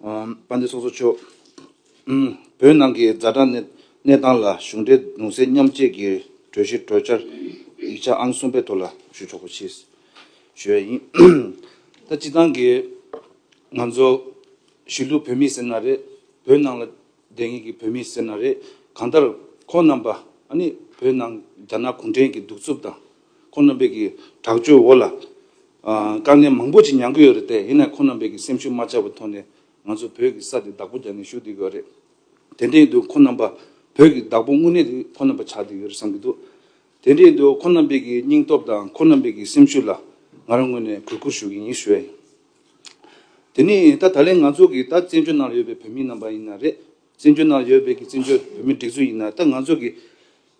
དཔལ་ལྡན་སོ་སོ་མཆོག་བོད་ནང་གི་རྫ་དྲག་གནས་སྟངས་ལ་གཞུང་འབྲེལ་གདུང་སེམས་མཉམ་བསྐྱེད་ཀྱི་གྲོས་གཞི་གྲོས་འཆར་ཡིག་ཆ་ཨང་གསུམ་པའི་ཐོག་ལ་ཞུ་ཆོག་པ་ཆེད་ཞུ་བ་ཡིན། ད་སྤྱི་བཏང་གི་ང་ཚོ་གཞིས་ལུས་བོད་མི་ཟེར་ན་རེད་བོད་ནང་ལ་བསྡད་ངེས་ཀྱི་བོད་མི་ཟེར་ན་རེད་གང་ལྟར་ཁོང་རྣམས་པ་ཨ་ནི་བོད་ནང་རྒྱ་ནག་གུང་ཁྲན་གྱི་གདུག་རྩུབ་དང་ཁོ་རྣམ་པས་ཀྱི་དྲག་སྤྱོད་འོག་ལ། དཀའ་ངལ་མང་པོ་ཅིག་མྱང་གི་ཡོད་རེད་དེ། ཡིན་ནའི་ཁོ་རྣམ་པས་ཀྱི་སེམས་ཤུགས་མ་ཆག་པའི་ཐོག་ནས་ང་ཚོ་བོད་ཀྱི་ས་དེ་བདག་པོ་རྒྱག་ནས་བཞུགས་དེ་ཡོད་རེད། དེ་འདྲའི་དུས་ཁོ་རྣམ་པ་བོད་ཀྱི་བདག་པོ་དངོས་གནས་དེ་ཁོ་རྣམ་པ་ཆགས་དེ་ཡོད་རེད་བསམ་གྱི་འདུག་དེ་འདྲའི་དུས་ཁོ་རྣམ་པས་ཀྱི་སྙིང་སྟོབས་དང་ཁོ་རྣམ་པས་ཀྱི་སེམས་ཤུགས་ལ་ང་རང་དངོས་ནས་གུས་བཀུར་ཞུ་གི་ཡིན་ཞུ་ཡ་ཡིན། དེ་ནི་ད་ད་ལན་ང་ཚོ་གྱི་ད་བཙན་བྱོལ་ནང་ལ་ཡོད་པའི་བོད་མི་རྣམ་པ་ཡིན་ན་རེད། བཙན་བྱོལ་ནང་ཡོད་པའི་གི་བཙན་བྱོལ་བོད་མི་སྒྲིག་འཛུགས་ཡིན་ན་ད་ང་ཚོ་གི་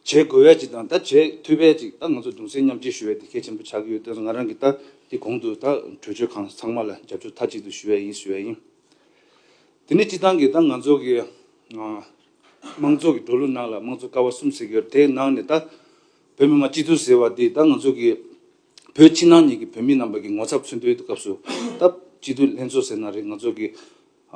བྱེད་དགོས་བས་ཅིག་དང་ད་བྱེད་འཐུས་བས་ཅིག་ད་ང་ཚོ་གདུང་སེམས་མཉམ་སྐྱེ་ཞུ་བས་དེ་གལ་ཆེན་པོ་ཆགས་ཀྱི་ཡོད་དོན་ང་རང་གི་ད་དེ་གོང་དུ་ད་གྲོས་ཆོད་ཁང་ཚང་མ་ལ་རྒྱབ་སྐྱོར་མཐའ་གཅིག་ཏུ་ཞུ་བས་ཡིན་ཞུ་བས་ཡིན། དེ་ནས་སྤྱི་བཏང་གི་ད་ང་ཚོ་གི་དམངས་གཙོ་གི་འགྲོ་ལུགས་ནང་ལ་དམངས་གཙོ་ཀ་བ་གསུམ་ཟེར་གྱི་ཡོད་དེའི་ནང་ནས་ད་བོད་མི་མང་སྤྱི་འཐུས་ཟེར་བ་དེ་ད་ང་ཚོ་གི་བོད་ཕྱི་ནང་གཉིས་གི་བོད་མི་རྣམས་པ་གི་ངོ་ཚབ་མཚོན་དོན་དུ་སྐབས་སུ་ད་སྤྱི་འཐུས་ལྷན་ཚོགས་ཟེར་ན་རེད་ང་ཚོ་གི་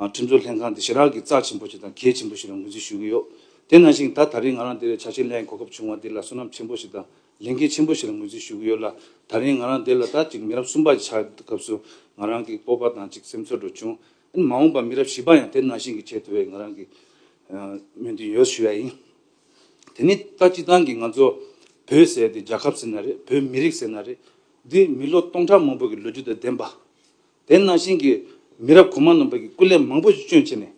ཁྲིམས་བཟོ་ལྷན་ཁང་འདི་ཞེ་རག་གི་རྩ་ཆེན་པོ་ཞིག་དང་གལ་ཆེན་པོ་ཞིག་རང་འགུལ་འཛིན་ཞུ་གི་ཡོད། དེ་ནང་བཞིན་ད་ད་རིང་ང་རང་འདིར་བྱ་བྱེད་ལྷའི་གོ་སྐབས་བྱུང་བ་འདི་ལ་བསོད་ནམས་ཆེན་པོ་ཞིག་དང་ལས་འགན་ཆེན་པོ་ཞིག་རང་འགུལ་འཛིན་ཞུ་གི་ཡོད་ལ། ད་རིང་ང་རང་འདི་ལ་ད་ཅིག་མི་རབས་གསུམ་པ་ཞིག་ཆགས་སྐབས་སུ་ང་རང་གི་སྤོབས་པ་དང་ཅིག་སེམས་ཚོར་འགྲོ་བྱུང། ཨེ་མ་འོངས་པར་མི་རབས་བཞི་པ་ཡང་དེ་ནང་བཞིན་གྱི་བྱེད་ཐུབ་པའི་ང་རང་གིས་སྨོན་འདུན་ཡོད་ཞུ་ཡ་ཡིན། དེ་ནི་ད་སྤྱི་བཏང་གི་ང་ཚོ་བོད་ཟེར་དེ་རྒྱལ་ཁབ་ཟེར་ན་རེད་བོད་མི་རིགས་ཟེར་ན་རེད། འདི་མི་ལོ་སྟོང་ཕྲག་མང་པོ་གི་ལོ་རྒྱུས་དང་ལྡན་པ། དེ་ནང་བཞིན་གྱི་མི་རབས་གོང་མ་རྣམས་བོད་ཀྱི་སྐུ་ལས་མང་པོ་ཞིག་སྤྱོད་བྱས་ནས།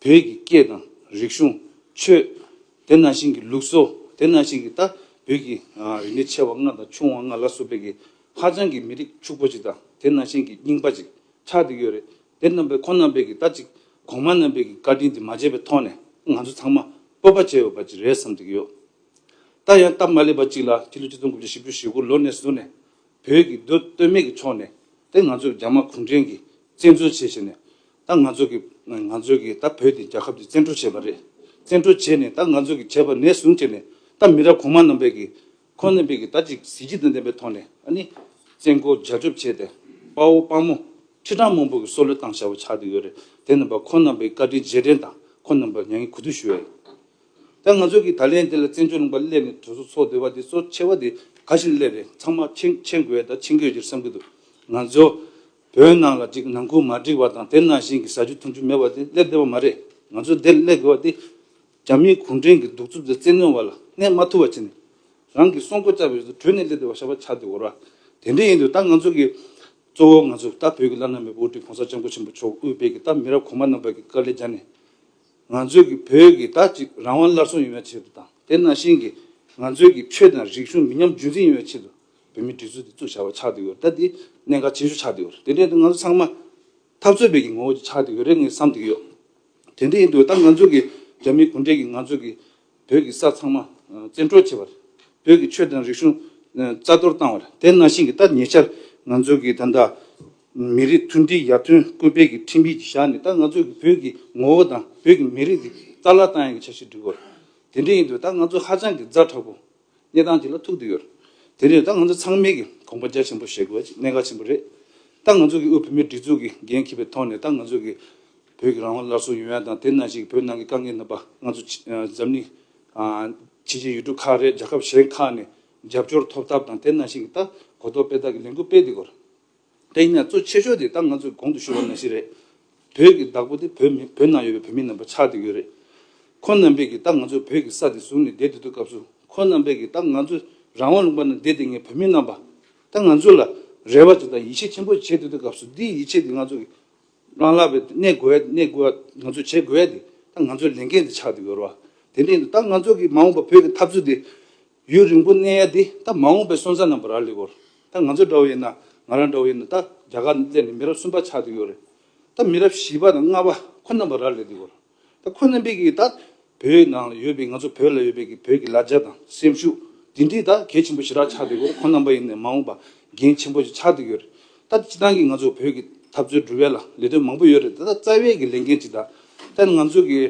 བོད་ཀྱི་སྐད་དང་རིག་གཞུང། ཆོས། དེ་ནང་བཞིན་གྱི་ལུགས་སྲོལ། དེ་ནང་བཞིན་གྱི་ད་བོད་ཀྱི་རིག་གནས་ཆེ་བ་ལྔ་དང་ཆུང་བ་ལྔ་ལ་སོགས་པའི་གི་ཧ་ཅང་གི་མི་རིགས་ཕྱུག་པོ་ཅིག་དང་དེ་ནང་བཞིན་གྱི་རྙིང་པ་ཅིག་ཆགས་འདུག་ཡོད་རེད་དེ་རྣམས་པས་ཁོང་རྣམས་པས་གི་ད་ཅིག་གོང་མ་རྣམས་པས་གི་བཀའ་དྲིན་དེ་མ་བརྗེད་པའི་ཐོག་ནས་ང་ཚོ་ཚང་མ་སྤོབས་པ་བྱས་ཡོད་པ་ཅིག་རེད་བསམ་གི་ཡོད། ད་ཡང་སྟབས་མ་ལེགས་པ་ཅིག་ལ་དེ་ལོ་གཅིག་སྟོང་དགུ་བརྒྱ་བཞི་བཅུ་ཞེ་དགུ་ལོ་ནས་བཟུང་ནས་བོད་ཀྱི་སྡོད་སྟོད་སྨད་ཀྱི་ཕྱོགས་ནས་ད་ང་ཚོས་རྒྱ་དམར་གུང་ཁྲན་གྱིས་བཙན་འཛུལ་བྱས་བྱས་ནས་ད་ང་ཚོ་གི་ང་ཚོས་གི་ད་བོད་དེ་རྒྱ་ཁབ་ཀྱིས་བཙན་འཕྲོག་བྱས་པ་རེད་བཙན་འཕྲོག་བྱས་ནས་ད་ང་ཚོས་གི་བྱས་པ་ནས་བཟུང་བྱས་ནས་ད་མི་རབས་གོང་མ་རྣམ་པས་གི་ཁོ་རྣམ་པས་གི་ད་ཅིག་གཟི་བརྗིད་དང་ལྡན་པའི་ཐོག་ནས་ཨ་ནི་བཙན་སྐུལ་རྒྱ་སྐྱོབ་བྱས་ཏེ་དཔའ་བོ་དཔའ་མོ་ཁྲི་ཕྲག་མང་པོ་གི་སྲོག་བློས་བཏང་བྱ་བ་ཆགས་ཏེ་ཡོད་རེད་དེ་རྣམ་པ་ཁོ་རྣམ་པའི་བཀའ་དྲིན་རྗེས་དྲན་དང་ཁོ་རྣམ་པར་མྱ་ངན་གུས་འདུད་ཞུ་བ་ཡིན། ད་ང་ཚོ་གིས་ད་ལན་དེ་ལ་བཙན་བྱོལ་ནང་པར་སླེབས་ནས་དོལ་སོ་འཚོགས་འདོད་པ་དེ་ཚོར་ཆེ་བ་དེ་ག་ཞིག་སླེབས་རེད་ཚང་མ་མཆན་འགོད་དང་མཆན་འགོད་ཀྱི་བསམ་གྱི་འདུག་ང་ཚོ་བོད་ནང་ལ་ཅིག་ནང་ཁུལ་མ་འགྲིག་པ་དང་དེ་ནང་བཞིན་གྱི་ཟ་རྒྱུ་འཐུང་རྒྱུ་མེད་པ་དེ་སླེབས་བདེ་བ་མ་རེད་ང་ཚོ་དེར་སླེབས་དགོས་པ་དེ་རྒྱ་མིའི་གུང་ཁྲན་གྱི་གདུག་རྩུབ་དང་བཙན་གནོན་བ་ལ་གནས་མ་ཐུབ་བ་བྱས་ནས་རང་གི་སྲོག་མགོ་བཅག་པའི་རིགས་དེ་བྲོས་ནས་སླེབས་བདེ་བ་ཞག་པ་ཆགས་དེ་འོར་བ་དེ་འདྲས་ཡིན་འདུག་ད་ང་ཚོ་གིས་གཙོ་བོ་ང་ཚོ་ད་བོད་ཀྱི་བླ་ན་མེད་པའི་དབུ་ཁྲིད་གོང་ས་སྤྱང་པོ་ཆེན་པོ་མཆོག་དབུས་བེད་ཀྱི་ད་མི་རབས་གོང་མ་རྣམས་པ་གྱི་དཀའ་ལས་བརྒྱ་ནས། ང་ཚོས་ཀྱི་བོད་ཀྱི་ད་ཅིག་རང་དབང་སླར་གསོ་ཡོང་བའི་ཆེད་དུ་དང་དེ་ནང་བཞིན་གྱི་ང་ཚོས་ཀྱི་ཆོས་དང་རིག་གཞུང་མི་ཉམས་རྒྱུན་འཛིན་ཡོང་བའི་ཆེད་དུ་བོད་མིའི་སྒྲིག་འཛུགས་དེ་ཚུགས་བྱ་བ་ཆགས་འདི་ཡོད་ད་དེའི་གནད་འགག་ཆེ་ཤོས་ཆགས་འདི་ཡོད་དེ་འདྲའི་ང་ཚོ་ཚང་མ་འཐབ་རྩོད་བོད་ཀྱི་ངོ་བོ་ཆགས་འདི་ཡོད་རེད་ངས་བསམ་འདི་ཡོད་དེ་འདྲ་ཡིན་དུས་ད་ང་ཚོས་ཀྱི་རྒྱ་མིའི་གུང་ཁྲན་གྱི་ང་ཚོས་ཀྱི་བོད་ཀྱི་ས་ཚང་མ་བཙན་འཕྲོག་བྱས་པར། བོད་ཀྱི་ཆོས་དང་རིག་གཞུང་རྩ་གཏོར་བཏང་བར་དེ་གནང་བཞིན་གྱི་ད་ཉེ་ཆར་ང་ཚོ་གི་ད་ལྟ་མི་རིགས་མཐུན་སྒྲིལ་ཡར་ཐོན་སྐུལ་སྤེལ་གྱི་ཁྲིམས་ཡིག་ཅིག་བཞག་ནས་ད་ང་ཚོ་གི་བོད་ཀྱི་ངོ་བོ་དང་བོད་ཀྱི་མི་རིགས་འདི་རྩ་བརླག་བཏང་ཡང་གི་བྱ་བཞིན་འདུག་གོ། དེ་འདྲ་ཡིན་དུས་ད་ང་ཚོ་ཧ་ཅང་གི་རྫ་དྲག་པོ་གནས་སྟངས་དེ་ལ་ཐུག་འདོད་ཡོད། དེ་ནས་ད་ང་ཚོ་ཚང་མས་ཀྱི་གོམ་པ་རྒྱ་ཆེན་པོ་བཞེས་དགོས་པ་ཅིག་གནད་འགག་ཆེན་པོ་རེད། ད་ང་ཚོ་གི་དབུས་བོད་མིའི་སྒྲིག་འཛུགས་ཀྱི་འགན་འཁྱེར་པའི་ཐོག་ནས་ད་ང་ཚོ་གི་བོད་ཀྱི་རང་དབང་སླར་གསོ་ཡོང་ཡ་དང་དེ་ན་ཞིག་བོད་ནང་གི་དཀའ་ངལ་རྣམ་པ་ང་ཚོ་འཛམ་གླིང་ཕྱི་རྒྱལ་ཡུལ་གྲུ་ཁག་རེད་རྒྱལ་ཁབ་གཞན་ཁག་ནས་རྒྱབ་སྐྱོར་ཐོབ་ཐབས་དང་དེ་ན་ཞིག་ད་གོ་རྟོགས་སྤེལ་ཐབས་ཀྱི་ལས་འགུལ་སྤེལ་དེ་གོ། དེ་ཡིན་ན་གཙོ་ཆེ་ཤོས་དེ་ད་ང་ཚོས་གོང་དུ་ཞུས་བ་ན་ཞིག་རེད། བོད་ཀྱི་བདག་པོ་དེ་བོད་མི་བོད་ནང་ཡོད་པའི་བོད་མི་རྣམས་པ་ཆགས་དེ་ཡོད་རེད། ཁོ་རྣམས་པས་ཀྱི་ད་ང་ཚོས་བོད་ཀྱི་ས་དེ་བཟུང་ནས་བསྡད་དེ་འདུག་སྐབས་སུ་ཁོ་རྣམས་པས་ཀྱི་ད་ང་ཚོས་རང་དབང་ལུང་པ་ན་བསྡད་དེ་ངས་བོད་མི་རྣམས་པ་ད་ང་ཚོས་ལ་རེ་བ་ཅིག་དང་ཡིད་ཆེས་ཆེན་པོ་ཅིག་བྱེད་དེ་འདུག་སྐབས་སུ་འདིའི་ཡིད་ཆེས་དེ་ང་ཚོ་གི་རང་ལ་བའི་གནས་དགོས་གནས་དགོས་ང་ཚོས་བྱེད་དགོས་དེ་ད་ང་ཚོའི་ལས་འགན་དེ་ཆགས་ཡོད་རེད་བ་དེ་ནས་ད་ང་ཚོ་གི་མ་འོངས་པ་བོད་ཀྱི་འཐབ་རྩོད་དེ་ཡུན་རིང་པོ་གནས་ཡ་དེ་ད་མ་འོངས་པའི་སོན་རྩ་རྣམས་པ་ར་ལི་བོར་ད་ང་ཚོ་འདྲ་བོ་ཡིན་ན་ང་རང་འདྲ་བོ་ཡིན་ན་ད་རྒྱ་གར་སླེབས་ནས་མི་རབས་གསུམ་པ་ཆགས་ཡོད་རེད་ད་མི་རབས་བཞི་པ་དང་ལྔ་པ་ཁོ་རྣམས་པ་ར་ལི་དེ་བོར། ད་ཁོ་རྣམ་པས་ཀྱི་ད་བོད་ནང་ལ་ཡོད་པའི་ང་ཚོ་བོད་ལ་ཡོད་པའི་ཀྱི་བོད་ཀྱི་ལ་རྒྱ་དང་སེམས་ཤུགས་དེ་འདྲས་ད་གལ་ཆེན་པོ་ཞེ་དྲག་ཆགས་འདུག་གོ་ཁོ་རྣམ་པ་ཡིན་ནས་མ་འོངས་པ་འགན་ཆེན་པོ་ཞིག་ཆགས་འདུག་ཡོད་རེད་ད་སྤྱི་བཏང་གི་ང་ཚོ་བོད་ཀྱི་འཐབ་རྩོད་འབྲུ་བལ་ལ་ལས་དོན་མང་པོ་ཡོད་རེད་ད་རྩ་བའི་ཀྱི་ལས་འགན་ཅིག་ད་ད་ང་ཚོ་ཀྱི་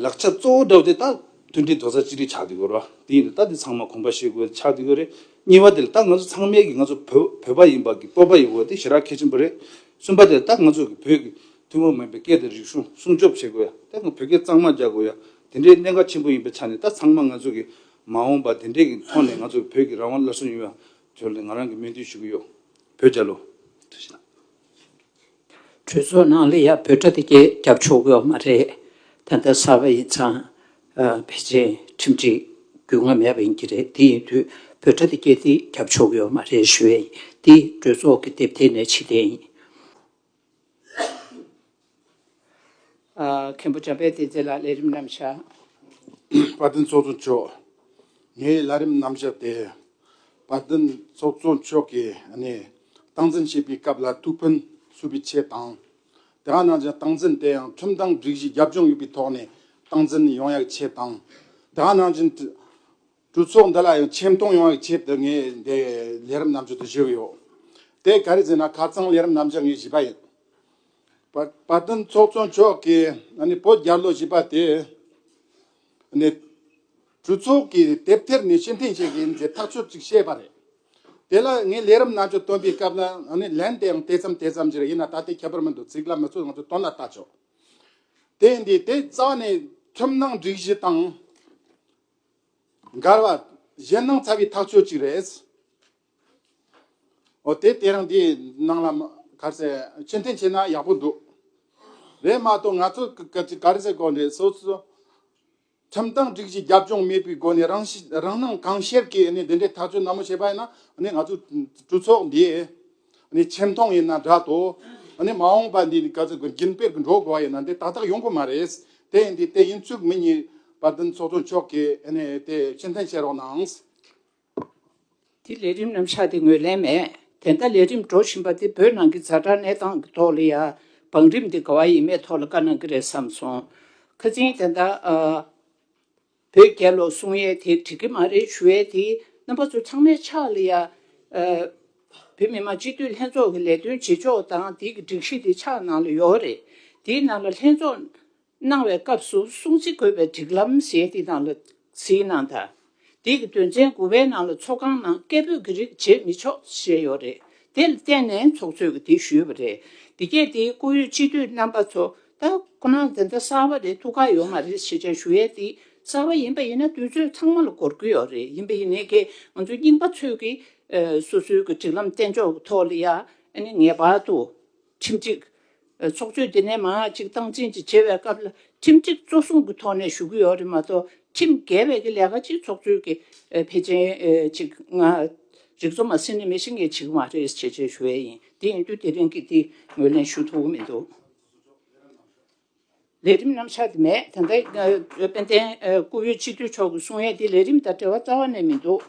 ལག་ཆ་གཙོ་བོ་འདྲ་བོ་དེ་ད་མཐུན་སྒྲིལ་དོགས་ས་ཅི་རིགས་ཆགས་འདུག་གོ་ར་དེ་ཡིན་ད་དེ་ཚང་མ་གོམས་པ་བཤད་དགོས་ཆགས་འདུག་ཡོད་རེད་གཉིས་པ་དེ་ད་ང་ཚོ་ཚང་མས་ཀྱི་ང་ཚོ་བོད་བོད་པ་ཡིན་པ་ཀྱི་སྤོབས་པ་ཡོད་དགོས་དེ་ཞེ་དྲག་གལ་ཆེན་པོ་རེད་གསུམ་པ་དེ་ད་ང་ཚོ་ཀྱི་བོད་ཀྱི་ཐུན་མོང་མིན་པའི་སྐད་དང་རིག་གཞུང་སྲུང་སྐྱོབ་བྱེད་དགོས་ཡ་དེ་དང་བོད་སྐད་གཙང་མ་རྒྱག་དགོས་ཡ་དེ་འདྲའི་གནད་འགག་ཆེན་པོ་ཡིན་པའི་ཆ་ནས་ད་ཚང་མ་ང་ཚོ་གི་མ་འོངས་པ་དེ་འདྲའི་གི་ཐོག་ནས་ང་ཚོ་བོད་ཀྱི་རང་དབང་སླར་གསོ་ཡོང་ཡ་དོན་ནི་ང་རང་གི་སྨོན་འདུན་ཞུ་གི་ཡོད་བོད་རྒྱ་ལོ། གྲོས་ཚོགས་ནང་ལ་ཡ་བོད་དྲ་དེ་གས་རྒྱབ་ཆོག་གི་ཡོད་མ་རེད་ད་ལྟ་གསར་པ་ཡིན་ཙང་བེ་ཅིན་ཁྲིམས་སྒྲིག་རྒྱུས་མངའ་མེད་པ་ཡིན་གྱི་རེད་དེ་ཡིན་དུས་བོད་དྲ་དེ་གས་དེ་རྒྱབ་ཆོག་གི་ཡོད་མ་རེད་ཞུ་བས་ཡིན་དེ་གྲོས་ཚོགས་ཀི་དེབ་ཐེར་ནས་ཕྱི་ལྟས་ཡིན། མཁན་པོ་བྱམས་པས་དེ་ཚེ་ལ་ལས་རིམ་རྣམ་བྱ། དཔའ་བརྟན་ཚོགས་གཙོ་མཆོག་ངས་ལ་རིམ་རྣམ་བྱ་སྟེ། དཔའ་བརྟན་ཚོགས་གཙོ་མཆོག་གིས་ནི་སྟངས་འཛིན་བྱེད་པའི་སྐབས་ལ་ཐུགས་ཕན་གསོས་པའི་ཆེད་དང། དེ་ག་ནང་བཞིན་སྟངས་འཛིན་དེ་ཡང་ཁྲིམས་དང་སྒྲིག་གཞི་རྒྱབ་ལྗོངས་ཡོད་པའི་ཐོག་ནས་སྟངས་འཛིན་ཡོང་ཡག་ཆེད་དང། དེ་ག་ནང་བཞིན། གྲོས་ཚོགས་འདི་ལ་ཡང་ཆེ་མཐོང་ཡོང་བའི་ཆེད་དུ་ངས་འདི་ལས་རིམ་རྣམ་འབྱོར་དུ་བཞེས་ཀྱི་ཡོད། དེ་ག་རེ་ཟེར་ན་ཁ་ཚང་ལས་རིམ་རྣམ་འབྱོར་ངས་བཞེས་པ་ཡིན། བ་དན་ཚོགས་གཙོ་མཆོག་གིས་བོད་རྒྱ་ལོ་བཞི་པ་དེ་ནི་གྲོས་ཚོགས་ཀྱི་དེབ་ཐེར་ནས་ཕྱིར་འཐེན་བྱེད་ཀྱི་ཡིན་ཞེས་ཐག་ཆོད་ཅིག་བཤད་པ་རེད། དེ་ལ་ངས་ལས་རིམ་རྣམ་འབྱོར་བཏོན་པའི་སྐབས་ལ་ལན་དེ་ཡང་དེ་ཙམ་དེ་ཙམ་ཞིག་རེད་ཡིན་ན་ད་ལྟའི་ཁྱད་པར་མི་འདུག་ཚིག་ལ་མི་ཚོད་ང་ཚོས་དོན་ལ་བལྟ་ཆོག་དེ་འདི་དེ་རྩ་བ་ནས་ཁྲིམས་ནང་སྒྲིག་གཞི་དང། འགར་བ། གཞན་སྣང་ཚ་བའི་ཐག་ཆོད་ཅིག་རེད། འོ་དེ་དེ་རིང་འདི་སྣང་ལ་གར་ཟེར་ཕྱིར་འཐེན་བྱས་ན་ཡག་པོ་འདུག། རེད་མ་གཏོགས་ང་ཚོ་གར་ཟེར་གོ་འདྲེ་སོ་སོ། ཁྲིམས་དང་སྒྲིག་གཞི་རྒྱབ་ལྗོངས་མེད་པའི་སྒོ་ནས་རང་སྣང་གང་ཤེར་གྱིས་འདི་འདྲའི་ཐག་གཅོད་ནན་མོ་བྱས་པ་ཡིན་ན་ང་ཚོའི་གྲོས་ཚོགས་འདིའི། ནི་ཆེ་མཐོང་ཡིན་ན་འདྲ་ཏོ། ནི་མ་འོངས་པ་འདི་ནི་ག་ཚོད་ཀྱི་རྒྱུན་སྤེལ་གྱི་འགྲོ་དགོས་པ་ཡིན་ན་དེ་ཏག་ཏག་ཡོང་གི་མ་རེད། དེ་ཡིན་དུས་དེ་ཡིན་ཚུལ་མི་རྙེད་པ་བདུན་ཚོགས་གཙོ་མཆོག་གིས་དེ་ཕྱིར་འཐེན་བྱེད་རོགས་གནང། དེ་ལས་རིམ་རྣམ་གཞག་དེ་ངོས་ལེན་མེད། དེ་འདྲ་ལས་རིམ་འགྲོ་བཞིན་པ་དེ་བོད་ནང་གི་རྫ་དྲག་གནས་སྟངས་ཀྱི་ཐོག་ལ་ཡ་བང་རིམ་དེ་ག་བ་ཡིན་མེད་ཐོག་ལ་བཀའ་གནང་གི་རེད་བསམ་སོང། ཁ་ཚིན་དེ་འདྲ། བོད་རྒྱལ་ལོ་གསུང་ཡས་དེ་བྲིས་ཀྱི་མ་རེད་ཞུ་ཡས་དེ་རྣམ་པ་ཚོ་ཚང་མའི་ཕྱག་ལ་ཡ། བོད་མི་མང་སྤྱི་འཐུས་ལྷན་ཚོགས་ཀྱི་ལས་དོན་བྱེད་ཕྱོགས་དང་དེ་གི་སྒྲིག་གཞི་དེ་ཕྱག་ནང་ལ་ཡོད་རེད་དེའི་ནང་ལ་ལྷན་ཚོགས་གནང་བའི་སྐབས་སུ་སྲུང་བརྩི་དགོས་པའི་སྒྲིག་ལམ་ཞེས་དེ་ནང་ལ་གཟིགས་གནང་དང་དེ་གི་དོན་ཚན་དགུ་བའི་ནང་ལ་ཚོགས་ཁང་ནང་སྐད་འབོད་ཀྱི་རིགས་བྱེད་མི་ཆོག་ཞེས་ཡོད་རེད་དེ་ལ་བརྟེན་ནས་ཚོགས་གཙོས་ཀྱི་དེ་ཞུས་པ་རེད་དེ་གས་དེ་བཀུར་འོས་སྤྱི་འཐུས་རྣམ་པ་ཚོ་ད་ཁོ་ནང་འཛིན་གྲྭ་གསར་བ་རེ་ཐུགས་ཁག་ཡོད་མ་རེད་ཞེས་བྱ་ཞུ་ཡས་འདི་གསར་བ་ཡིན་པ་ཡིན་ན་དུས་ཚོད་ཚང་མ་ལ་གོར་གི་ཡོད་རེད་ཡིན་པ་ཡིན་ནའི་གེ་ང་ཚོ་རྙིང་པ་ཚོས་གི་སོ་སོའི་གི་སྒྲིག་ལམ་བསྟན་ཕྱོགས་གི་ཐོག་ལ་ཡང་ནི་ངེས་པར་དུ་ཁྲིམས་སྒྲིག་ཚོགས་ཆོས་འདི་ནས་མང་ཅིག་སྟངས་འཛིན་ཅིག་བྱེད་པའི་སྐབས་ལ་ཁྲིམས་སྒྲིག་གཙོ་བཟུང་གི་ཐོག་ནས་ཞུ་གི་ཡོད་རེད་མ་གཏོགས་ཁྲིམས་འགལ་བའི་གི་ལས་ཀ་ཅིག་ཚོགས་ཆོས་གི་ཕལ་ཆེན་ཅིག་ང་རིག་ཚོ་མ་ཟིན་ནས་མི་ཤི་ངེས་བྱེད་གི་མ་རེད་ཞེས་བྱས་ཞུ་ཡས་ཡིན་དེ་ཡིན་དུས་དེ་རིང་གི་འདི་ངོས་ལེན་ཞུ་ཐུབ་གི་མི་འདུག། ལས་རིམ་རྣམ་གཞག་དེ་མེད་དེ་འདྲ་དཔལ་ལྡན་སྐུ་བོད་སྤྱི་འཐུས་མཆོག་གི་གསུང་ཡས་དེ་ལས་རིམ་དང་འབྲེལ་བ་རྩ་བ་ནས་མི་འདུག།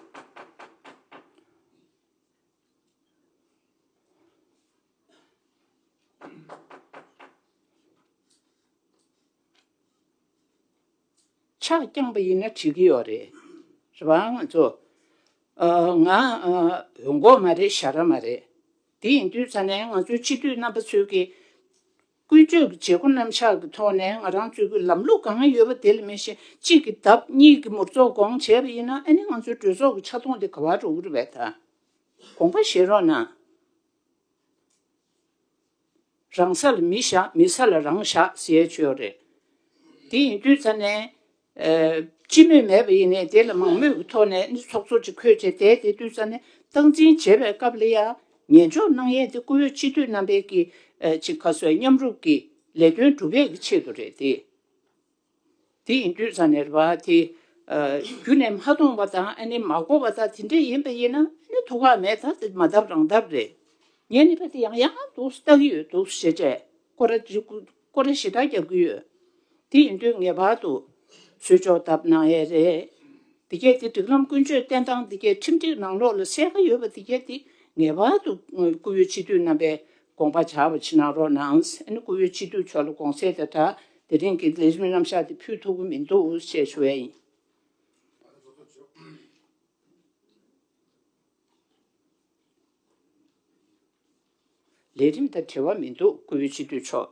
ཕྱག་བརྐྱངས་པ་ཡིན་ན་བྱེད་ཀྱི་ཡོད་རེད་རེད་བ་ང་ཚོ། ང་འོས་འགོག་མ་རེད་ཞྭ་ར་མ་རེད། དེ་ཡིན་དུས་ཚ་ནས་ང་ཚོའི་སྤྱི་འཐུས་རྣམ་པ་ཚོས་ཀྱི། ཀུན་སྤྱོད་ཀྱི་བྱེད་སྒོ་རྣམ་གཞག་གི་ཐོག་ནས་ང་རང་ཚོས་ཀྱི་ལམ་ལུགས་གང་ཡོད་པ་དེ་ལ་མེད་བཞིན་གཅིག་གི་ལྡབ་གཉིས་ཀྱི་མུར་ཚོགས་སྐོང་བྱས་པ་ཡིན་ན་ཨ་ནི་ང་ཚོའི་གྲོས་ཚོགས་ཀྱི་ཆ་མཐོང་དེ་ག་བར་འགྲོ་གི་རེད་བས་ད་དགོངས་པ་བཞེས་རོགས་གནང། རང་ས་ལ་མི་བཞག་མི་ས་ལ་རང་བཞག་ཟེར་ཆོས་རེད། དེ་ཡིན་དུས་ཚ་ནས། སྤྱི་མོས་མེད་པ་ཡིན་ནས་དེ་ལ་མང་མོས་ཀྱི་ཐོག་ནས་ནི་ཚོགས་གཙོ་ཅིག་འཁོད་བྱས་དེས་དེ་དུས་ཚ་ནས་སྟངས་འཛིན་བྱེད་པའི་སྐབས་ལ་ཡང་ཉན་འཇོག་གནང་ཡས་དེ་བཀུར་འོས་སྤྱི་འཐུས་རྣམ་པས་ཀྱིས་ཅིག་ག་སོའི་མཉམ་རུབ་ཀྱིས་ལས་དོན་སྒྲུབ་ཡས་ཀྱི་ཆེད་དུ་རེད་དེ། དེ་ཡིན་དུས་ས་ནས་རེ་བ་དེ། རྒྱུ་ནས་མ་མཐོང་བ་དང་ཨ་ནི་མ་གོ་བ་དང་དེ་འདྲ་ཡིན་པ་ཡིན་ན་ཨ་ནི་དོ་ཁག་མེད་ད་དེ་མ་བཏབ་རང་བཏབ་རེད། ངས་ནི་ཕ་དེ་ཡང་ཡང་འདུག་བལྟ་གི་ཡོད་འདུག་ཞེས་བྱས་ཀོ་ར་འདྲི་ཀོ་ར་ཞེ་དྲག་རྒྱབ་ཀྱི་ཡོད། དེ་ཡིན་དུས་ངེས་པར་དུ་བཟོས་ཆོག་བཏབ་ན་ཡས་རེད། འདི་གས་དེ་སྒྲིག་ལམ་ཀུན་སྤྱོད་བསྟེན་སྟངས་འདི་གས་ཁྲིམས་སྒྲིག་ནང་ལོགས་ལ་གསལ་ཁ་ཡོད་པ་འདི་གས་དེ་ངེས་པར་དུ་བཀུར་འོས་སྤྱི་འཐུས་རྣམ་པས་དགོངས་པ་བྱ་བ་ཕྱི་ནང་རོ་ནང་སེ་ནི་སྐུ་བོའི་སྤྱི་བསྡུས་ཆོག་ལ་དགོངས་སེལ་དེ་འདྲ་དེ་རིང་གི་ལས་རིམ་རྣམ་གཞག་འདི་ཕུལ་ཐུབ་ཀྱི་མི་འདུག་ཞེས་ཞུ་བས་ཡིན། ལས་རིམ་དང་འབྲེལ་བ་མི་འདུག་སྐུ་བོའི་སྤྱི་བསྡུས་ཆོག།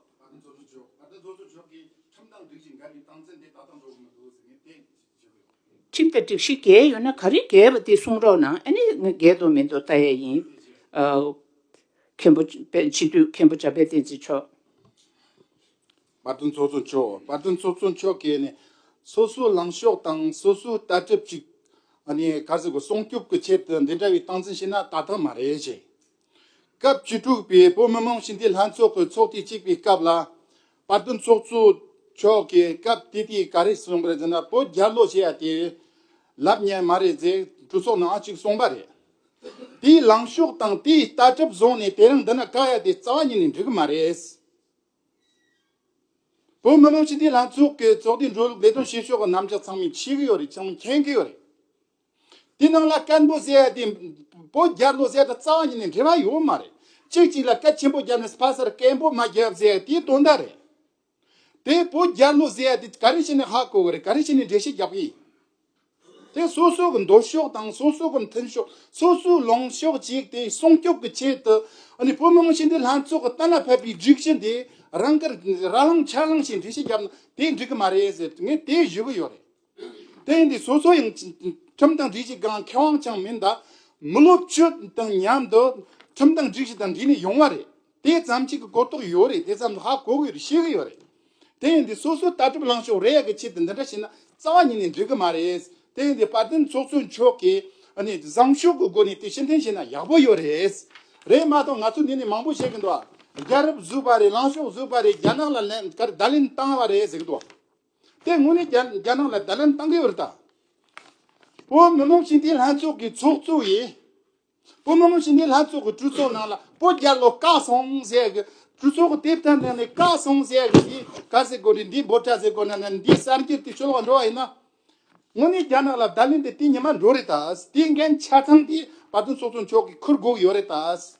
ཁྲིམས་དང་སྒྲིག་གཞི་འགལ་ཡོད་ན་ག་རེ་འགལ་བ་དེ་གསུང་རོགས་གནང་ཨ་ནི་ང་འགལ་འདུག་མི་འདུག་ལྟ་ཡས་ཡིན། མཁན་པོ་དཔལ་སྤྱི་འཐུས་མཁན་པོ་འཇམ་དཔལ་བསྟན་འཛིན་མཆོག། དཔའ་རྟུལ་ཚོགས་གཙོ་མཆོག་དཔའ་རྟུལ་ཚོགས་གཙོ་མཆོག་གིས་ནི་སོ་སོའི་ལངས་ཕྱོགས་དང་སོ་སོའི་ལྟ་གྲུབ་ཅིག་ཨ་ནི་ག་ཟེར་དགོས་སྲུང་སྐྱོབ་ཀྱི་ཆེད་དུ་འདི་འདྲ་བའི་སྟངས་འཛིན་བྱས་ན་ད་ཐང་མ་རེད་ཅེས་སྐབས་བཅུ་དྲུག་པའི་བོད་མི་མང་སྤྱི་འཐུས་ལྷན་ཚོགས་ཀྱི་ཚོགས་ཐེངས་གཅིག་པའི་སྐབས་ལ། པར་སྐྲུན་ཚོགས་གཙོ་མཆོག་གིས་སྐབས་དེ་དུས་ག་རེ་གསུངས་པ་རེད་ཟེར་ན་བོད་རྒྱ་ལོ་བྱེད་ཡ་དེ་ལབ་ཉན་མ་རེད་ཟེར་གྲོས་ཚོགས་ནང་ཨང་གཅིག་གསུངས་པ་རེད། དེའི་ལངས་ཕྱོགས་དང་དེའི་ལྟ་གྲུབ་བཟུང་ནས་དེ་རིང་འདི་ན་བཀག་ཡ་དེ་རྩ་བ་ཉིད་ནས་འགྲིག་གི་མ་རེད། བོད་མི་མང་སྤྱི་འཐུས་ལྷན་ཚོགས་ཀྱི་ཚོགས་དུས་འགྲོ་ལུགས་ལས་དོན་བྱེད་ཕྱོགས་ཀྱི་རྣམ་གཞག་ཚང་མས་འཆད་གི་ཡོད་རེད་ཚང་མས་མཁྱེན་གི་ཡོད་རེད། དེ་རྣམས་ལ་བཀའ་མདོ་གསལ་ཡང་དེ་པོ་རྒྱ་མདོ་གསལ་དང་རྩ་བ་ཉིད་ནས་འབྲེལ་བ་ཡོད་མ་རེད། ཅིག་ཅིག་ལ་བཀའ་ཆེན་པོ་རྒྱབ་ནས་ཕ་སར་བཀའི་འབོ་མ་རྒྱབ་གསལ་ཡང་དེའི་དོན་དག་རེད། དེ་པོ་རྒྱ་མདོ་གསལ་ཡང་དེ་ག་རེ་བྱས་ནས་ཧ་གོ་གི་རེད་ག་རེ་བྱས་ནས་འགྲེལ་བཤད་རྒྱབ་གི་ཡིན། དེ་སོ་སོ་གི་འདོད་ཕྱོགས་དང་སོ་སོ་གི་མཐུན་ཕྱོགས་སོ་སོའི་ལངས་ཕྱོགས་གཅིག་དེ་སྲུང་སྐྱོབ་ཀྱི་ཆེད་དུ་བོད་མི་མང་ཤས་འདི་ལྷན་ཚོགས་ཀྱི་གཏན་ལ་ཕབ་པའི་སྒྲིག་གཞི་འདི་རང་གིས་ར་ལངས་ཆ་ལངས་བྱས་འགྲེལ་བཤད་རྒྱབ་ན་དེ་འགྲིག་གི་མ་རེད་ཟེར་ངས་དེ་ཞུ་གི་ཡོད་རེད། དེང་དུས་སོ་སོ་ཡང་ཁྲིམས་དང་སྒྲིག་གཞི་འགའ་མཁས་དབང་ཅང་མིན་དག་མི་ལོ་བཅུ་དང་མཉམ་དུ་ཁྲིམས་དང་སྒྲིག་གཞི་དང་འདྲིས་ནས་ཡོང་བ་རེད་དེ་ཙམ་གཅིག་གི་གོ་རྟོགས་ཡོད་རེད་དེ་ཙམ་ལ་ཧ་གོ་གི་ཡོད་རེད་ཤེས་གི་ཡོད་རེད་དེང་དུས་སོ་སོའི་ལྟ་གྲུབ་ལངས་ཕྱོགས་རེ་ཡ་གི་ཆེད་དུ་འདི་འདྲ་བྱས་ན་རྩ་བ་ཉིད་ནས་འགྲིག་གི་མ་རེད་དེང་དུས་དཔལ་ལྡན་ཚོགས་གཙོ་མཆོག་གིས་བཟང་ཕྱོགས་ཀྱི་སྒོ་ནས་དེ་ཕྱིར་འཐེན་བྱས་ན་ཡག་པོ་ཡོད་རེད་རེད་མ་གཏོགས་ང་ཚོ་འདི་ནས་མང་པོ་བཤད་གི་འདུག་རྒྱ་རབས་བཟོས་པ་རེད་ལངས་ཕྱོགས་བཟོས་པ་རེད་རྒྱ་ནག་ལ་བརྡ་ལན་བཏང་བ་རེད་ཟེར་གི་འདུག། དེ་སྔོན་ནས་རྒྱ་ནག་ལ་དར་ལམ་བཏང་གི་འུར་ད། བོད་མི་མང་སྤྱི་འཐུས་ལྷན་ཚོགས་ཀྱི་ཚོགས་གཙོ་ཡིས། བོད་མི་མང་སྤྱི་འཐུས་ལྷན་ཚོགས་ཀྱི་གྲོས་ཚོགས་ནང་ལ་བོད་རྒྱ་ལོ་བཀའ་སོང་ཟེར་གི། གྲོས་ཚོགས་ཀྱི་དེབ་ཐེར་ནང་ནས་བཀའ་སོང་ཟེར་གི་འདི་ག་ཟེར་དགོས་རེད་འདི་འབོར་ཆ་ཟེར་དགོས་ན་ནི་འདི་གསར་འགྱུར་དེ་ཤོད་ལོག་འགྲོ་བ་ཡིན་ན། སྔོན་ནས་རྒྱ་ནག་ལ་དར་ལེན་དེ་དེ་ཉིན་མ་འགྲོ་རེད་ད། དེའི་འགན་ཆ་ཚང་དེ་བར་དོའི་ཚོགས་གཙོ་མཆོག་གིས་འཁུར་དགོས་ཀྱི་ཡོད་རེད་ད།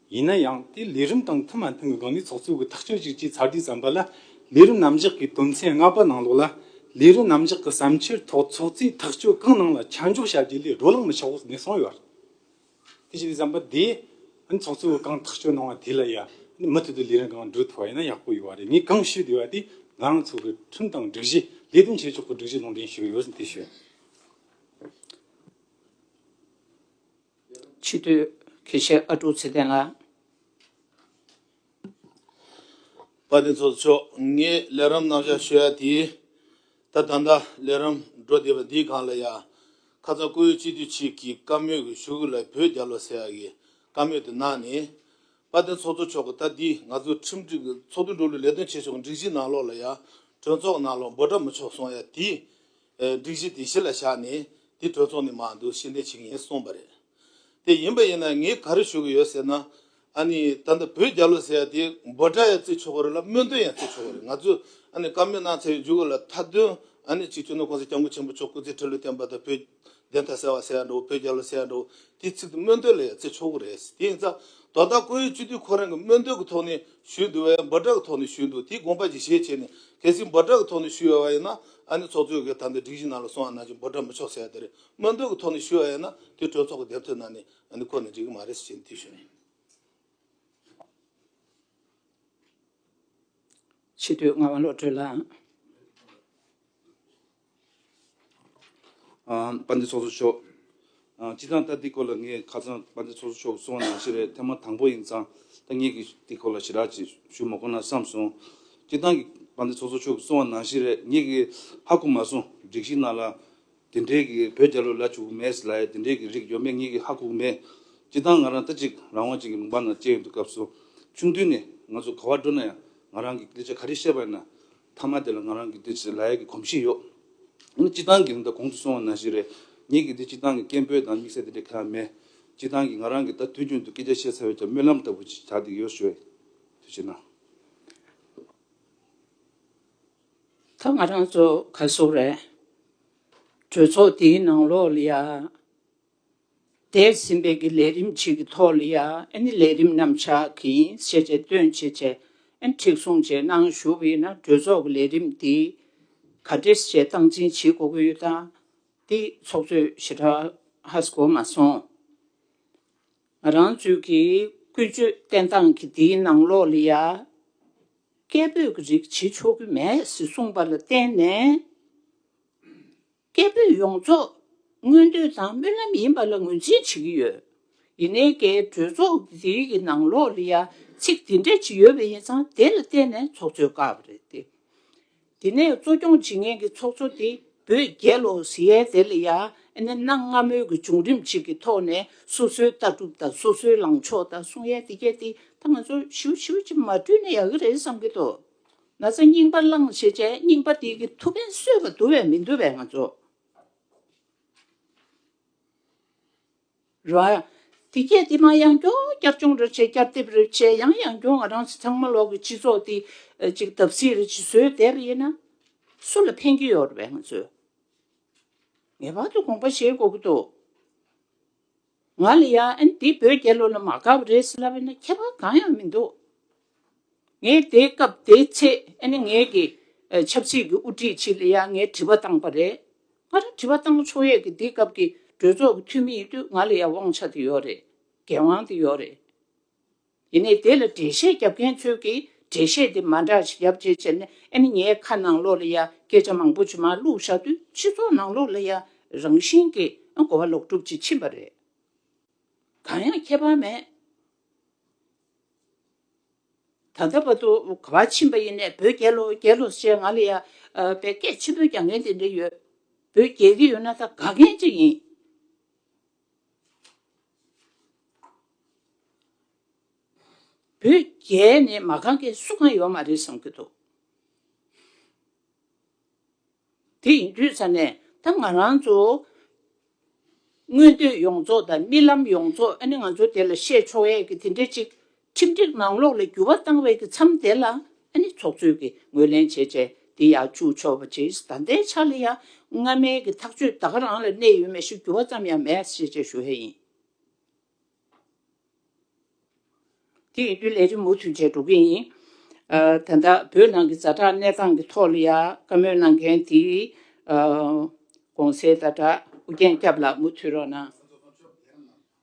ཡིན་ན་ཡང་དེ་ལས་རིམ་དང་མཐུན་མ་མཐུན་གྱི་སྒང་ནས་ཚོགས་གཙོའི་གི་ཐག་གཅོད་ཅིག་ཅེས་ཚར་དུས་བསམ་པ་ལ་ལས་རིམ་རྣམ་གཞག་གི་དོན་ཚན་ལྔ་པ་ནང་ལོགས་ལ་ལས་རིམ་རྣམ་གཞག་གི་བསམ་འཆར་ཐོག་ཚོགས་གཙོས་ཐག་གཅོད་གང་གནང་ལ་ཆ་འཇོག་བྱ་རྒྱུ་ལས་རོ་ལངས་མི་ཆོག་ཟེར་ནས་གསུངས་ཡོད་རེད། དེ་བྱས་དུས་བསམ་པ་དེ་ཨ་ནི་ཚོགས་གཙོ་བོས་གང་ཐག་གཅོད་གནང་བ་དེ་ལ་ཡ་ནི་མུ་མཐུད་དུ་ལས་རིམ་གང་འགྲོ་ཐུབ་པ་ཡིན་ན་ཡག་པོ་ཡོད་རེད་ངས་གང་ཞུས་བསྡད་པ་དེ་ང་རང་ཚོ་གི་ཁྲིམས་དང་སྒྲིག་གཞི་ལས་དོན་བྱེད་ཕྱོགས་ཀྱི་སྒྲིག་གཞི་ལུང་འདྲེན་ཞུས་ཡོད་ཟེར་དེ་བཤད། ཕྱི་དུས། གེ་ཤའི་ཨ་དཀྲུག་ཚེ་བརྟན་ལགས། བཀའ་བསྟན་ཚོགས་གཙོ་མཆོག་ངས་ལས་རམས་གནང་བཞག་ཤོད་ཡ་དེ་ད་ད་ལྟ་ལས་རམས་འགྲོ་བསྡད་པ་འདི་གང་ལ་ཡ། ཁ་ཚ་ཀོ་ཡུ་སྤྱི་འཐུས་གཅིག་གིས་བཀའ་མོས་གི་ཞུ་གི་ལ་བོད་རྒྱ་ལོ་ཟེར་ཡ་གི་བཀའ་མོས་དེ་གནང་ནས། བཀའ་བསྟན་ཚོགས་གཙོ་མཆོག་གི་ད་འདི་ང་ཚོ་ཁྲིམས་སྒྲིག་གི་ཚོགས་འདུ་འགྲོ་ལུགས་ལས་དོན་བྱེད་ཕྱོགས་གི་འགྲིག་གཞི་གནང་ལོག་ལ་ཡ་གྲོས་ཚོགས་གནང་ལོག་འབོད་སྒྲ་མི་ཆོག་སོང་ཡ་དེ། སྒྲིག་གཞི་དེ་གཞི་ལ་བཞག་ནས་དེ་གྲོས་ཚོགས་ནས་མ་འདུག་ཤེས་ལྡན་ཞིག་ཡིན་གསུངས་པ་རེད། དེ་ཡིན་པ་ཡིན་ན་ངས་ག་རེ་ཞུ་གི་ཡོད་ཟེར་ན། ཨ་ནི་ད་ལྟ་བོད་རྒྱ་ལོ་ཟེར་ཡ་དེ་འབོད་སྒྲ་ཡང་བརྩི་ཆོག་གི་རེད་ལ་སྨོན་འདུན་ཡང་བརྩི་ཆོག་གི་རེད་ང་ཚོས་ཨ་ནི་བཀའ་མོལ་གནང་ཚར་བའི་མཇུག་ལ་མཐའ་དོན་ཨ་ནི་གཅིག་བྱུང་ན་གོང་ས་སྐྱབས་མགོན་ཆེན་པོ་མཆོག་སྐུ་ཚེ་ཁྲི་ལོ་བརྟན་པ་དང་བོད་བདེན་མཐའ་གསལ་བ་གསལ་འགྲོ་བོད་རྒྱལ་ལོ་གསལ་འགྲོ་དེའི་ཚིག་དེ་སྨོན་འདོད་ལ་ཡང་བརྩི་ཆོག་གི་རེད་ཟེར་དེ་ཡིན་ཙང་དོ་བདག་ཁོ་ཡུལ་སྤྱི་འཐུས་ཁོ་རང་གི་སྨོན་འདོད་ཀྱི་ཐོག་ནས་ཞུས་འདུག་བས་འབུ་དྲག་གི་ཐོག་ནས་ཞུས་འདུག་དེའི་དགོངས་པ་གྱི་ཞེས་བྱས་ནས་གལ་སྲིད་འབུ་དྲག་གི་ཐོག་ནས་ཞུས་ཡོད་པ་ཡིན་ན་ཨ་ནི་ཚོགས་གཙོའི་གི་དམ་དེ་སྒྲིག་གཞི་ནང་ལ་སོང་བ་ནང་བཞིན་འབུ་དྲག་མི་ཆོག་ཟེར་ཡ་དེ་རེད་སྨོན་འདོད་ཀྱི་ཐོག་ནས་ཞུས་ཡ་ཡིན་ན་དེ་གྲོས་ཚོགས་ཀྱི་བདེན་འཚོལ་ནང་ནས་ཨ་ནི་ཁོ་ནས་འགྲིག་གི་མ་རེད་ཟེར་བྱས་ནས་དེ་ཞུས་ནས། ཕྱི་སྡོད་ངག་དབང་བློ་གྲོས་ལགས། དཔའ་འདི་ཚོགས་གསོག་ཤོག། སྤྱི་ཙང་ལྟ་འདི་སྐོར་ལ་ངས་ཁ་ཙང་དཔའ་འདི་ཚོགས་གསོག་ཤོག་གསུང་བ་ནང་བཞིན་རེད་ཐེངས་མ་དང་པོ་ཡིན་ཙང་ཐ་སྙད་ཀྱི་འདི་སྐོར་ལ་ཞི་དྲག་ཅིག་ཞུ་མ་གོ་ན་བསམ་སོང། སྤྱི་ཙང་གི་དཔའ་འདི་ཚོགས་གསོག་ཤོག་གསུང་བ་ནང་བཞིན་རེད་ངེད་ཀྱི་ཧ་གོ་མ་སོང་སྒྲིག་གཞི་ནང་ལ་དེ་འདྲའི་གི་བོད་རྒྱ་ལོ་ལ་བྱུག་གི་མེད་ལ་དེ་འདྲའི་གི་རིགས་ཡོད་མེད་ངེད་ཀྱི་ཧ་གོ་མེད། སྤྱི་ཙང་ང་རང་ལྟ་ཅིག་རང་དབང་ཅན་གྱི་མུན་པ་ནང་བསྐྱལ་ཡོད་འདུག་སྐབས་སུ་ཆུང་དུས་ནས་ང་ཚོ་ག་བར་འགྲོ་ན་ཡང་ང་རང་གི་ལི་ཆ་ག་རེ་བཤད་པ་ཡིན་ན་མཐའ་མ་དེ་ལ་ང་རང་གི་འདི་ཟེར་ལ་ཡག་གི་གོམས་གཤིས་ཡོད། འོ་ན་སྤྱི་བཏང་གི་རིན་ཐང་གོང་དུ་སོང་བ་ན་ཞིག་རེད། ངེད་ཀྱི་འདི་སྤྱི་བཏང་གི་སྐད་འབོད་དང་དམིགས་བསལ་དེ་འདྲའི་ཁ་ཡ་མེད། སྤྱི་བཏང་གིས་ང་རང་གིས་ད་དུས་རྒྱུན་དུ་སྐད་ཆ་བཤད་ཚར་བས་ཀྱང་སྨོན་ལམ་ལྟ་བུ་ཞིག་བྱ་འདི་ཡོད་ཞུ་བས། དུས་ཕྱིན་ན། ད་ང་རང་ཚོ་ག་སོག་རེད། གྲོས་ཚོགས་འདིའི་ནང་ལོག་ལ་ཡ། འདས་ཟིན་པའི་གི་ལས་རིམ་གཅིག་གི་ཐོག་ལ་ཡ་ཨན་ནི་ལས་རིམ་རྣམ་གཞག་གི་ཤེས་བྱའི་སྟོན་བྱེད་ཆ་ཨན་ཁྲིགས་སྲུང་བཅས་གནང་ཞུ་བས་ན་གྲོས་ཚོགས་ཀྱི་ལས་རིམ་འདི་ག་འདྲེས་བཅས་སྟངས་འཛིན་བྱེད་དགོས་ཀྱི་ཡོད་དང་འདི་ཚོགས་གཙོས་ཞི་དྲག་ཧ་ཟི་གོ་མ་སོང། ང་རང་ཚོའི་གི་ཀུན་སྤྱོད་བསྟེན་སྟངས་ཀྱི་འདིའི་ནང་ལོགས་ལ་ཡ་སྐད་འབོད་ཀྱི་རིགས་བྱེད་ཆོག་གི་མེད་ཟི་གསུངས་པ་ལ་བརྟེན་ནས། སྐད་འབོད་ཡོངས་རྫོགས་སྔོན་དུད་ཚང་སྨོན་ལམ་ཡིན་པ་ལ་ངོས་འཛིན་བྱེད་ཀྱི་ཡོད། ཡིན་ནའི་འགའི་གྲོས་ཚོགས་འདིའི་གི་ནང་ལོག་ལི་ཡ་ཚིག་འདི་འདྲ་ཅིག་ཡོད་པ་ཡིན་ཙང་དེ་ལ་བརྟེན་ནས་ཚོགས་གཙོའི་བཀའ་བབས་རེད་དེ། དེ་ནས་གཙོ་སྐྱོང་བྱེད་མཁན་གི་ཚོགས་གཙོ་དེ་བོད་རྒྱལ་ལོ་ཟི་ཡའི་དེ་ལ་ཡ་ཨེ་ནའི་གནའ་སྔ་མོའི་གི་བྱུང་རིམ་ཅིག་གི་ཐོག་ནས་སོ་སོའི་ལྟ་གྲུབ་དང་སོ་སོའི་ལངས་ཕྱོགས་དང་གསུང་ཡས་དེ་རྒྱས་དེ་ད་ང་ཚོ་ཞིའུ་ཞིའུ་ཅིག་མ་བསྐྲུན་ན་ཡག་གི་རེད་བསམ་གི་འདུག། ན་ཚ་རྙིང་པ་བླངས་ཞེས་བྱའི་རྙིང་པ་དེའི་གི་ཐུགས་ཕན་གསོས་པ་འདུ་བས་མི་འདུ་བས་ང་ཚོ། རོ། དེ་སྐད་དེ་མ་ཡང་སྐྱོ་བསྐྱར་སྐྱོང་རེ་བྱས་བསྐྱར་དེབ་རེ་བྱས་ཡང་ཡང་སྐྱོ་ང་རང་ཚང་མ་ལོག་གི་སྤྱི་ཚོགས་འདི་ཅིག་བརྡབ་གསིག་རེ་བྱེད་སྲོལ་དེ་རེ་ཡིན་ན། སུ་ལ་ཕན་གྱི་ཡོད་རེད་བས་ང་ཚོས་ངེས་པར་དུ་དགོངས་པ་བཞེས་དགོས་ཀྱི་འདུག། ང་ལ་ཡང་འདི་བོད་རྒྱལ་ལོ་ལ་མ་དགའ་བ་རེད་ཟེར་ལབ་ཡོད་ན་ཁྱད་པར་གང་ཡང་མི་འདུག་ངས་དེའི་སྐབས་དེའི་ཚེ་ནས་ངེད་ཀྱི་ཆབ་སྲིད་ཀྱི་དབུ་ཁྲིད་ཅིག་ལ་ཡང་ངས་དྲི་བ་བཏང་པ་རེད། ང་རང་དྲི་བ་བཏང་ན་ཆོག་ཡས་ཀྱི་འདི་སྐབས་ཀྱི་གྲོས་ཚོགས་ཀྱི་འཐུས་མི་ཡིན་དུས་ང་ལ་ཡང་དབང་ཆ་དེ་ཡོད་རེད་འགན་དབང་དེ་ཡོད་རེད། དེ་ནས་དེ་ལ་འགྲེལ་བཤད་རྒྱབ་མཁན་ཚོས་ཀྱིས་འགྲེལ་བཤད་དེ་མ་འདྲ་ཞིག་རྒྱབ་རྗེས་ཕྱིར་ནས་ཨེ་ནི་ངའི་ཁ་ནང་ལོགས་ལ་ཡང་སྐད་ཆ་མང་པོ་ཇི་མ་བླུགས་བཞག་དུས་སྤྱི་ཚོགས་ནང་ལོགས་ལ་ཡང་རང་བཞིན་གྱིས་གོ་བ་ལོག་སྒྲུབ་ཅིག་ཕྱིན་པ་རེད། གང་ཡང་ཁྱད་པར་མེད། ད་ལྟ་བར་དུ་གོ་བ་ཕྱིན་པ་ཡིན་ནས་བོད་རྒྱལ་ལོ་རྒྱལ་ལོ་ཞེས་ང་ལ་ཡང་བས་སྐད་ཆེན་པོས་རྒྱག་མཁན་དེ་འདྲ་ཡོད། བོད་རྒྱལ་གྱི་ཡོད་ན་ད་དགའ་མཁན་ཅིག་ཡིན། བོད་རྒྱལ་ནི་མ་གང་གི་སུ་གང་ཡོད་མ་རེད་བསམ་གྱི་འདུག་དེ་ཡིན་དུས་ས་ནས་ད་ང་རང་ཚོ་མངོན་འདོད་ཡོངས་རྫོགས་དང་རྨི་ལམ་ཡོངས་རྫོགས་ཨ་ནི་ང་ཚོ་དེ་ལ་བཤད་ཆོག་ཡས་ཀྱི་དེ་འདྲས་ཅིག་ཁྲིམས་སྒྲིག་ནང་ལོགས་ལ་འགྱུར་བ་བཏང་བའི་གི་མཚམས་དེ་ལ་ནི་ཚོགས་གཙོས་ཀྱི་ངོས་ལེན་བྱེད་ཆེད་དེ་ཡང་བཅུག་ཆོག་པ་ཇི་ལྟ་བདེ་ཆ་ལ་ཡང་སྔ་མའི་གི་ཐག་གཅོད་དག་རང་ལ་གནས་ཡོད་མེད་ཞིག་འགྱུར་བ་ཙམ་ཡང་མེད་ཤེས་ཆེད་ཞུ་ཧེ་ཡིན། དེ་ཡིན་དུས་ལས་རིམ་མུ་མཐུད་བྱས་འགྲོ་གི་ཡིན། ད་ལྟ་བོད་ནང་གི་བཟའ་གྲྭ་གནས་སྟངས་ཀྱི་ཐོག་ལ་ཡང་བཀའ་མོལ་གནང་མཁན་དེ་གོང་གསལ་ཟླ་གྲགས་ཨུ་རྒྱན་སྐྱབས་ལགས་མུ་མཐུད་རོགས་གནང།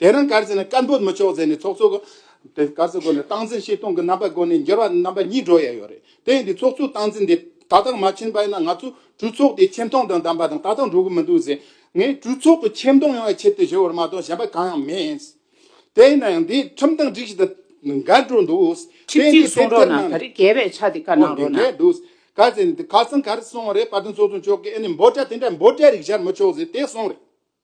དེ་རིང་སྐར་རྩིས་ནི་སྐར་འབོད་མི་ཆོག་ཟེར་ནས་ཚོགས་གཙོ་གིས་དེ་སྐར་རྩིས་སྒོ་ནས་སྟངས་འཛིན་བྱེད་སྟངས་ཀྱི་རྣམ་པ་སྒོ་ནས་འགྱུར་བ་རྣམ་པ་གཉིས་འགྲོ་ཡས་ཡོད་རེད་དེ་ཡིན་དུས་ཚོགས་གཙོའི་སྟངས་འཛིན་དེ་ད་ལྟ་མ་ཕྱིན་པ་ཡིན་ན་ང་ཚོ་གྲོས་ཚོགས་དེ་ཆེ་མཐོང་དང་ལྡན་པ་དང་ད་ལྟ་འགྲོ་གི་མི་འདུག་ཟེར་ངས་གྲོས་ཚོགས་ཀྱི་ཆེ་མཐོང་ཡོང་བའི་ཆེད་དུ་ཞུ་བར་མ་གཏོགས་གཞན་པ་གང་ཡང་མེད། དེ་ཡིན་ན་ཡང་དེ་ཁྲིམས་དང་སྒྲིག་གཞི་དང་འགལ་འགྲོ་འདུག་དེ་ཁྲིམས་ཡིན་སྒྲིག་དུས་གསུང་དེབ་རོགས་ཐེར་གནང་གནང་ད་རེ་རྒྱལ་བའི་ཕྱག་དེ་བཀའ་གནང་རོགས་གནང། འགལ་འདུག་སྐར་རྩིས་ནི་དེ་ག་ཚང་ག་རེ་སོང་བ་རེད་བར་དུ་ཚོགས་གཙོ་མཆོག་གིས་ཨེ་ནས་འབོད་སྒྲ་དེ་འདྲ་འབོད་སྒྲ་རིགས་སྦྱར་མི་ཆོག་ཟེར་དེ་སོང་རེད།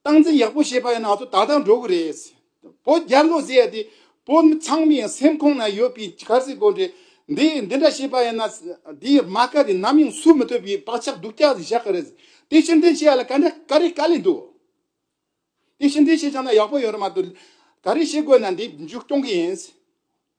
སྟངས་འཛིན་ཡག་པོ་བྱེད་པ་ཡིན་ན་ཚོ་ད་ལྟ་འགྲོ་གི་རེད། བོད་རྒྱ་མཚོ་ཟེར་ཡ་དེ་བོད་མི་ཚང་མའི་སེམས་ཁོང་ན་ཡོད་པའི་གར་སའི་དགོན་རེད། འདི་འདི་འདྲ་བྱེད་པ་ཡིན་ན་དེའི་རྨ་ཁ་དེ་ནམ་ཡང་སུ་མི་ཐུབ་པའི་བག་ཆགས་སྡུག་ཅག་བཞག་གི་རེད། དེ་ཕྱིར་འདྲེན་བྱེད་ཡ་ལ་ག་འདྲ་ག་རེ་ག་ལས་འདུག། དེ་ཕྱིར་འདྲེན་བྱེད་ཅང་ན་ཡག་པོ་ཡོད་རེད་མ་གཏོགས་ག་རེ་བྱེད་དགོས་ན་འདི་མཇུག་སྐྱོང་གི་ཡིན།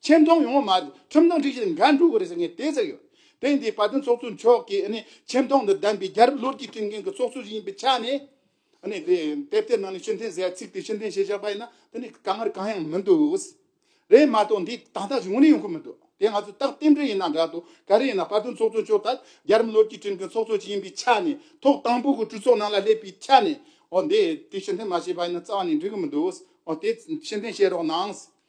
ཆེ་མཐོང་ཡོང་བ་མ་ཟད་ཁྲིམས་དང་སྒྲིག་གཞི་དང་འགལ་འགྲོ་གི་རེད་ཟེར་ངས་དེ་ཟེར་ཡོད། དེང་དུས་བར་དོའི་ཚོགས་གཙོ་མཆོག་གིས་ཆེ་མཐོང་དང་ལྡན་པའི་རྒྱལ་རབས་ལོ་རྒྱུས་སྤྲིངས་མཁན་གྱི་ཚོགས་གཙོ་ཞིག་ཡིན་པའི་ཆ་ནས། དེབ་དེའི་ནང་ནས་ཕྱི་འཐེན་ཟེར་ཚིག་དེ་ཕྱི་འཐེན་བྱས་བཞག་པ་ཡིན་ན་དཀའ་ངལ་གང་ཡང་མི་འདུག། རེད་མ་གཏོགས་འདི་ད་ལྟ་བྱུང་རིགས་ཡོང་གི་མི་འདུག་དེ་ང་ཚོས་རྟག་རྟེན་འབྲེལ་ཡིན་ན་འདྲ་དོ་ག་རེ་ཡིན་ན་བར་དོའི་ཚོགས་གཙོ་མཆོག་ལྟར་རྒྱལ་རབས་ལོ་རྒྱུས་སྤྲིངས་མཁན་ཚོགས་གཙོ་ཞིག་ཡིན་པའི་ཆ་ནས་ཐོག་དང་པོ་གི་གྲོས་ཚོགས་ནང་ལ་སླེབས་པའི་ཆ་ནས་འོ་འདི་དེ་ཕྱི་འཐེན་མ་བྱས་པ་ཡིན་ན་རྩ་བ་ནས་འགྲིག་གི་མི་འདུག་འོ་དེ་ཕྱི་འཐེན་བྱེད་རོགས་གནང།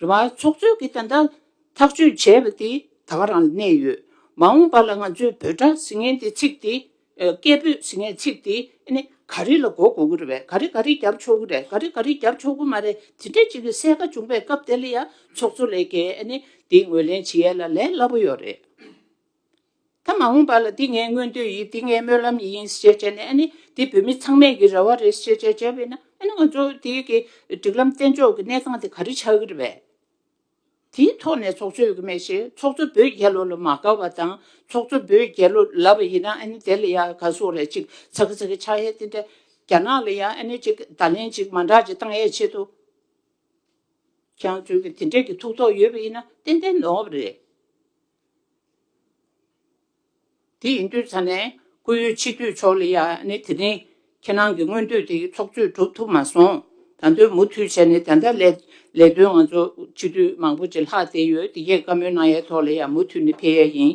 རེ་བ་འཚོགས་ཚོད་ཀྱི་ཐད་ཐག་གཅོད་བྱས་པ་དེ་ད་བར་རང་གནས་ཡོད། མ་འོངས་པ་ལ་ང་ཚོས་འབོད་སྒྲ་ཟེར་མཁན་དེ་ཚིག་དེ། སྐད་འབོད་ཟེར་མཁན་ཚིག་དེ་ནི་ག་རེ་ལ་གོ་དགོས་ཀྱི་རེད་བས་ག་རེ་ག་རེ་བརྒྱབ་ཆོག་གི་རེད་ག་རེ་ག་རེ་བརྒྱབ་ཆོག་གི་མ་རེད་དེ་འདྲ་ཅིག་གི་གསལ་ཁ་བྱུང་པའི་སྐབས་དེ་ལ་ཡང་ཚོགས་གཙོ་ལས་ཀའི་དེ་ངོས་ལེན་བྱེད་ཡས་ལ་ལས་སླ་པོ་ཡོད་རེད། ད་མ་འོངས་པ་ལ་འདི་ངའི་མངོན་འདོད་ཡིན་འདི་ངའི་སྨོན་ལམ་ཡིན་ཞེས་བྱས་ནས་ཨ་ནི་འདི་བོད་མི་ཚང་མས་ཀྱི་རེ་བ་རེད་ཞེས་བྱས་བྱས་པས་ན་ཨ་ནི་ང་ཚོ་འདི་གི་སྒྲིག་ལམ་བརྟན་འཇོག་གི་གནས་སྟངས་དེ་ག་རེ་ཆགས་ཀྱི་རེད་པས། དེའི་ཐོག་ནས་ཚོགས་གཙོས་ཀྱི་མེད་བཞིན་ཚོགས་གཙོ་བོད་རྒྱལ་ལོ་ལ་མ་དགའ་བ་དང་ཚོགས་གཙོ་བོད་རྒྱལ་ལོ་ལབ་པ་ཡིན་ན་ཨ་ནི་དེ་ལ་ཡང་ག་སོགས་རེད་ཅིག་ཚ་གི་ཚ་གི་ཆགས་ཡས་དེ་འདྲ་རྒྱ་ནག་ལ་ཡང་ཨ་ནི་ཅིག་བརྡ་ལན་ཅིག་མ་འདྲ་ཅིག་བཏང་ཡས་ཆེད་དུ་ཀྱང་ཚོས་ཀྱི་དེ་འདྲས་ཀྱི་ཐུགས་དོགས་ཡོད་པ་ཡིན་ན་ཏན་ཏན་ནོར་བ་རེད། དེ་ཡིན་དུས་ཚང་ནས་སྐུ་ཡོད་ཕྱི་དུས་ཆོག་ལེ་ཡ་ནི་དེ་རིང་ཁྱེད་རང་གི་སྔོན་དུས་དེ་ཚོགས་གཙོས་གྲུབ་ཐུབ་མ་སོང་ད་དོན་མུ་མཐུད་བྱས་ནས་ད་ལྟ་ལས་ལས་དོན་ང་ཚོ་ཕྱི་དུས་མང་པོ་ཅི་ལྷག་བསྡད་ཡོད་དེ་ཡས་བཀའ་མོལ་གནང་ཡས་ཐོག་ལེ་ཡ་མུ་མཐུད་ནས་ཕེལ་ཡས་ཡིན།